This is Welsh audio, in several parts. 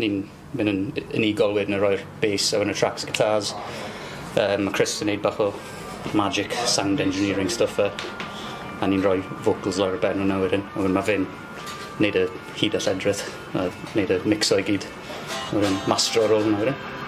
Ni'n mynd yn unigol wedyn a rhoi'r bass ar yn y tracks guitars. Yym ma' Chris yn neud bach o magic sound engineering stwff yy a ni'n rhoi vocals lawr ar ben wnna wedyn a wedyn ma' fe'n neud y hud a lledrith a neud y micso i gyd a wedyn mastro ar ôl 'na wedyn.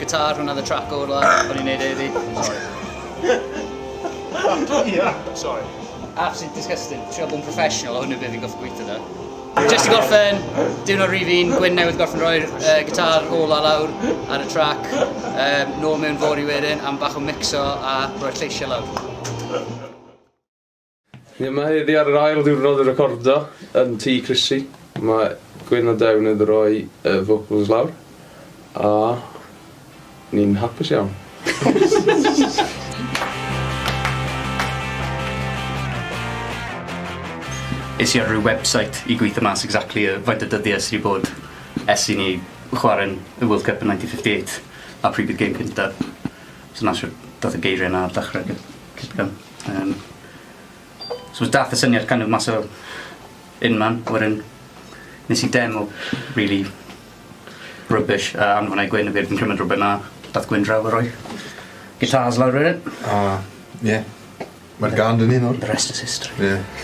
Guitar, hwnna oedd y trac o'r la, o'n i'n neud e iddi. Sorry. Ia, sorry. Absolutely disgusting. Trio bod yn professional, o hwnnw beth fi'n goffi gweithio da. Just i gorffen, diwrnod rhif un, Gwyn newydd gorffen rhoi'r uh, gitar ola lawr ar y trac. Um, nôl mewn fori wedyn, am bach o mixo a rhoi'r lleisiau lawr. Ni yma heddi ar yr ail ddiwrnod o recordo yn Tŷ Chrissy. Mae Gwyn a Dew newydd roi y vocals lawr a ni'n hapus iawn. Es i ar ryw website i gweithio mas exactly yy faint o dyddie sy 'di bod ers i ni chware'n y World Cup yn ninety fifty eight a pryd bydd gêm cyntaf. So 'na shwt dath y geirie 'na ar dechre gy- cipio. Um, so was dath y syniad kind of mas o un man, wedyn nes i demo really rubbish uh, anfon ei gwyn y byd yn cymryd rhywbeth na dath gwyn draw a roi guitars lawr wedyn. A, ie. Mae'r gan dyn ni nawr. The rest is history. Ie.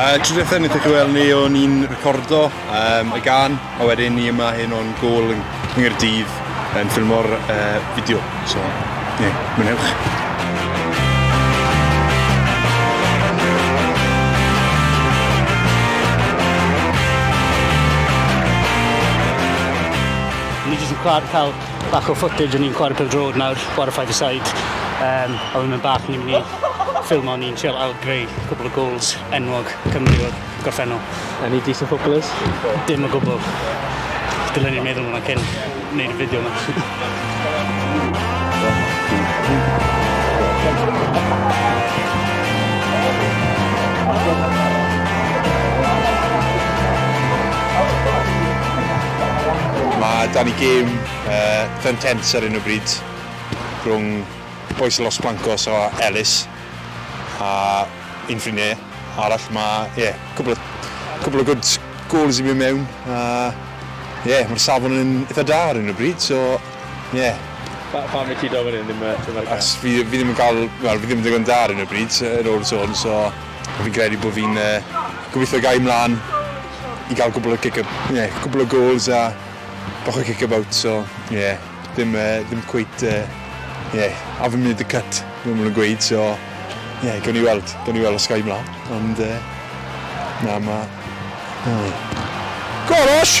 A tro diwethaf wnaethoch chi weld ni o'n i'n recordo um, y gan, a wedyn ni yma hyn o'n gol yn Nghyrdydd yn ffilmo'r uh, fideo. So, ie, yeah, mwynhewch. Ni jyst yn cael Bach o footage o'n i'n chwarae pel drod nawr, chwarae five a side. Um, a wedyn yn bach ni'n mynd i ffilm o'n i'n trial ailgreu cwbl o goals enwog Cymru o'r gorffennol. Any decent footballers? Dim o gwbl. Dylen ni'n meddwl hwnna cyn wneud y fideo yma. Mae 'da ni gêm yy yn Kent ar hyn o bryd rhwng bois Los Blancos a Elis a un ffrindiau arall ma' ie cwpl o cwpl o good goals i mynd mewn a ie ma'r safon yn itha da ar hyn o bryd so ie. Pa- pam wyt ti do fan hyn ddim yy dim ar y gân? Achos fi fi ddim yn ga'l wel fi ddim yn ddigon da ar hyn o bryd yy yn ôl y sôn so fi'n credu bo' fi'n yy gobitho gai mlan i gael gwbl o kick up, ie, gwbl o gols a bach o kick about, so ie, ddim, uh, ddim cweit, ie, uh, yeah, haven't made the cut, fel maen nhw'n gweud, so ie, yeah, gawn ni weld, gawn ni weld os gael mlaen, ond uh, na, mae... Golosh!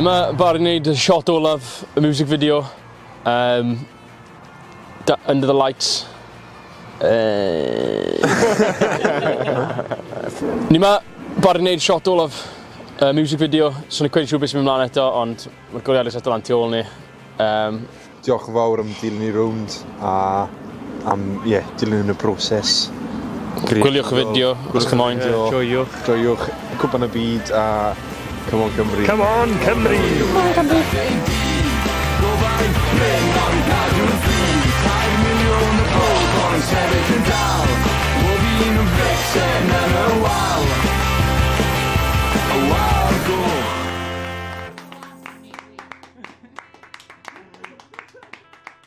Dyma Barry neud y shot olaf y music video. Um, under the lights. Uh... Ni ma, bar i wneud shot olaf uh, music video, so ni cwedi siw beth sy'n mynd mlaen eto, ond mae'r goliadus eto lan tu ôl ni. Um... Diolch yn fawr am dilyn ni rownd a am ie, dilyn y broses. Gwyliwch y fideo os chi'n moyn. Joiwch. Joiwch Cwpan y Byd a Come on Cymru. Come on Cymru! Come on Cymru!